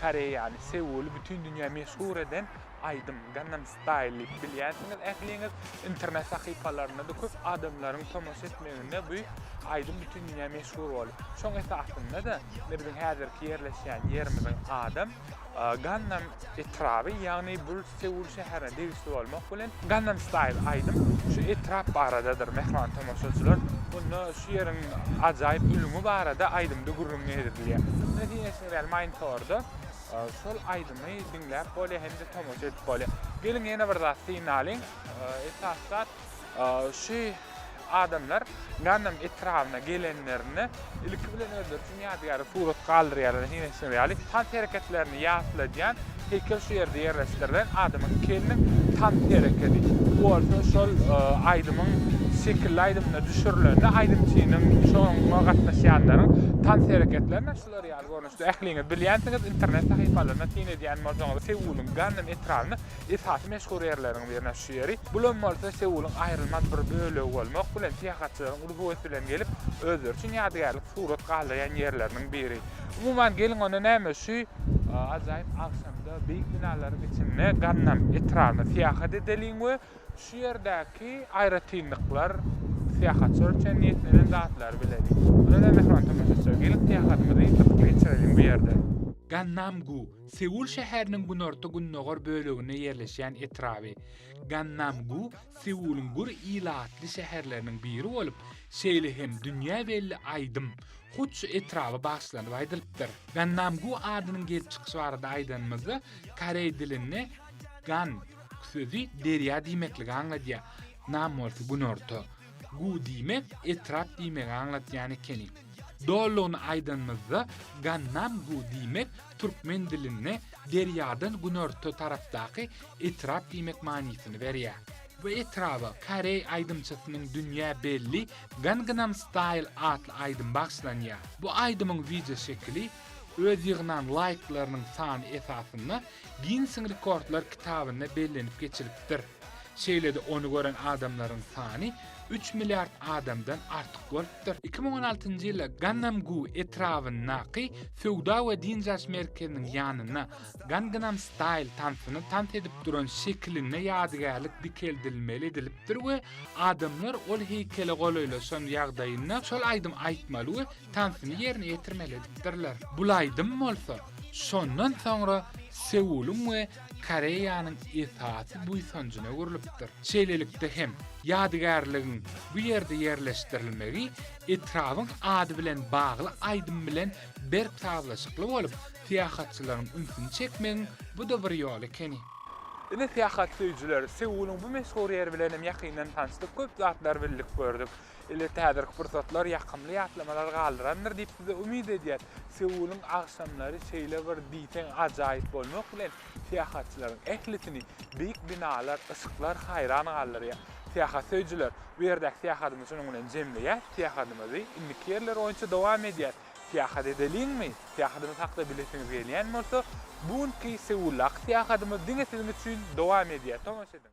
Koreýaly, Seuly bütin dünýä meşhur eden aýdym Gangnam Style diýip bilýänsiňiz ähliňiz. Internet sahypalarynda-da köp adamlaryň tomaşa etmeginde bu aýdym bütin dünýä meşhur boldy. Şoň esasynda-da biziň häzirki ýerleşýän ýerimiziň adam Gangnam etraby, ýagny bul Seul şäherine degişli bolmak bilen, Gangnam Style aýdym şu etrap baradadyr, mähriban tomaşaçylar. Onda şu ýeriň ajaýyp ülňi barada aýdymda gürrüň edilýär. Biz diňe Instagram monitorda şol aýdymy diňläp bolýar hem-de tomaşa edip bolýar. Geliň ýene bir zat synalyň. Esasy zat, Şu adamlar Ganam etrabyna gelenlerinde, ilki bilen özleri üçin ýadygärlik surat galdyrýarlar diýenleri ýaly, tans hereketlerini ýatladýan heýkel şu ýerde ýerleşdirilen. Adamyň keliniň tans herekedi. Bu bolsa şol aýdymyň şekilli aýdymyna düşürilende aýdymçynyň, şoňa gatnaşýanlaryň tans hereketlerini şular ýaly görnüşde ähliňiz bilýänsiňiz, internet sahypalaryna syn edýän bolsaňyz, Seulyň Ganam etrabyna Esasy meşhur ýerleriň birine şu ýeri, bul hem bolsa Seulyň aýrylmaz bir bölegi bolmak bilen syýahatçylaryň uly höwes bilen gelip, özleri üçin ýadygärlik surat galdyrýan ýerleriniň biri. Umuman, geliň onda näme, şu ajaýyp agşamda beýik binalaryň içinde Gannam etrabyna syýahat edeliň we şu ýerdäki aýratynlyklar, syýahatçylar üçin niýetlenen zatlary bileliň. Onda-da, mähriban tomaşaçylar, geliň syýahatymyzy gyzykly geçireliň bu ýerde. Gannam-gu, Seul şäheriniň günorta-gündogar böleginde ýerleşýän etraby Gannam-gu Seulyň gür ilatly şäherleriniň biri bolup, şeýle hem dünýä belli aýdym hut şu etraba bagyşlanyp aýdylypdyr. Gannam-gu adynyň gelip çykyşy barada aýdanymyzda, koreý dilinde gan sözi derýa diýmekligi aňladýar, nam bolsa günorta. Gu diýmek etrap diýmegi aňlatýan ekeni. Dolugyny aýdanymyzda, Gannam Gu diýmek türkmen dilinde derýadan günorta tarapdaky etrap diýmek manysyny berýär. Bu etraba koreý aýdymçysynyň dünýä belli Gangnam Style atly aýdymy bagyşlanýar. Bu aýdymyň wideoşekili öz ýygnan laýklarynyň sany esasynda Ginnesiň rekordlar kitabynda bellenip geçilipdir. Şeýle-de ony gören adamlaryň sany üç milliard adamdan artyk bolupdyr. Iki müň on altynjy ýylda Gannam-gu etrabyndaky söwda we dynç alyş merkeziniň ýanynda Gangnam Style tansyny tans edip duran şekilinde ýadygärlik dikeldilmeli edilipdir we adamlar ol heýkele golaýlaşan ýagdaýynda şol aýdymy aýtmaly we tansyny ýerine ýetirmeli edipdirler. Bulaýdym bolsa, şondan soňra Seulyň we Koreýanyň esasy buýsanjyna öwrülipdir. Şeýlelikde hem, ýadygärligiň bu ýerde ýerleşdirilmegi etrabyň ady bilen bagly aýdym bilen berk sazlaşykly bolup, syýahatçylaryň ünsüni çekmegiň bu-da bir ýoly ekeni. Ine, syýahat söýüjiler, Seulyň bu meşhur ýeri bilen hem ýakyndan tanyşdyk, köp zatlary bildik, gördük. Elbetde häzirki pursatlar ýakymly ýatlamalar galdyrandyr diýip size umyt edýäs. Seulyň agşamlary şeýle bir diýseň ajaýyp bolmak bilen syýahatçylaryň ählisini beýik binalar, yşyklar haýran galdyrýar. Syýahat söýüjiler, bu ýerdäki syýahadymyzy şunuň bilen jemleýäs, syýahadymyzy indiki ýerler boýunça dowam edýäs. Syýahat edeliňmi? Syýahadymyz hakda bilesiňiz gelýän bolsa, bu günki Seuldaky syýahadymyz diňe siziň üçin dowam edýär, tomaşa ediň!